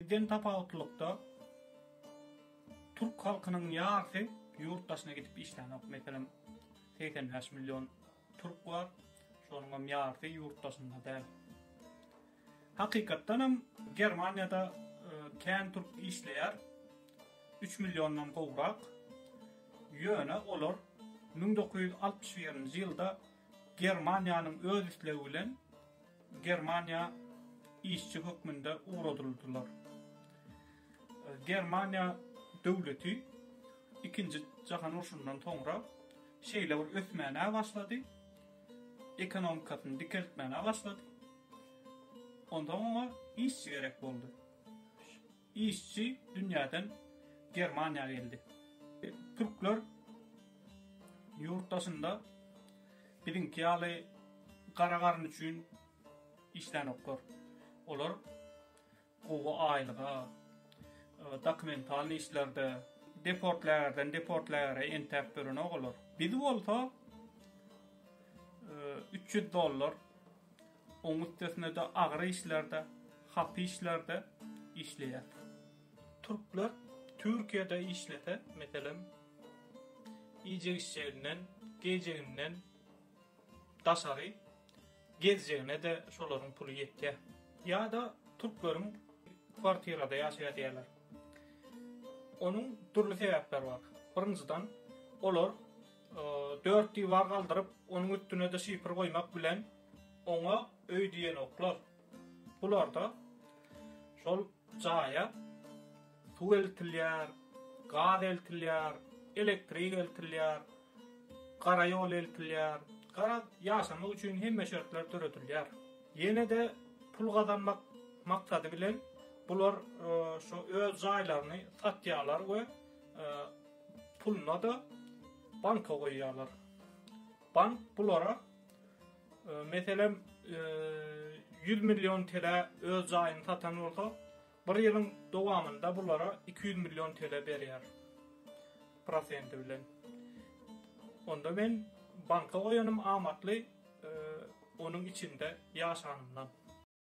Bizden tapawutlylykda, türk halkynyň ýarsy ýurt daşyna gidip işlänok. Meselem, segsen bäş million türk bar, şonuň hem ýarsy ýurt daşynda däl. Hakykatdan hem, Germaniýada kän türk işleýär, üç milliondan gowrak. Ýöne olar müň dokuz ýüz altmyş birinji ýylda Germaniýanyň öz islegi bilen, Germaniýa işçi hökmünde ugradyldylar. Germaniýa döwleti Ikinji jahan urşundan soňra şeýle bir ösmäne başlady, ekonomikasyny dikeltmäne başlady. Onsoň oňa işçi gerek boldy. Işçi dünýäden Germaniýa geldi. Türkler ýurt daşynda biziňki ýaly gara garyn üçin işlänoklar. Olar gowy aýlyga, dokumentalnyý işlerde, deportlägerden deportlägere entäp ýörenok olar. Biz bolsa üç ýüz dollar. Oň üstesine-de agyr işlerde, hapy işlerde işleýär. Türkler Türkiýede işlese, meselem, iýjek-içjeginden, geýjeginden daşary gezjegine-de şolaryň puly ýetýär. Ýa-da türkleriň kwartirada ýaşaýar diýýärler. Onuň dürli sebäpleri bar. Birinjiden, olar dört diwar galdyryp, onuň üstüne-de şifr goýmak bilen, Oňa öý diýenoklar. Bularda şol jaýa suw eltilýär, gaz eltilýär, elektrik eltilýär, gara ýol eltilýär. Garaz, ýaşamak üçin hemme şertler döredilýär. Ýene-de pul gazanmak maksady bilen bular şu öz jaýlaryny satýarlar we puluna-da banka goýýarlar. Bank bulara Meselem, 100 million TL öz jaýyny satan bolsa, bir ýylyň dowamynda bulara 200 million TL berýär prosenti bilen. Onda men banka goýanym amatly, onuň içinde ýaşanymdan.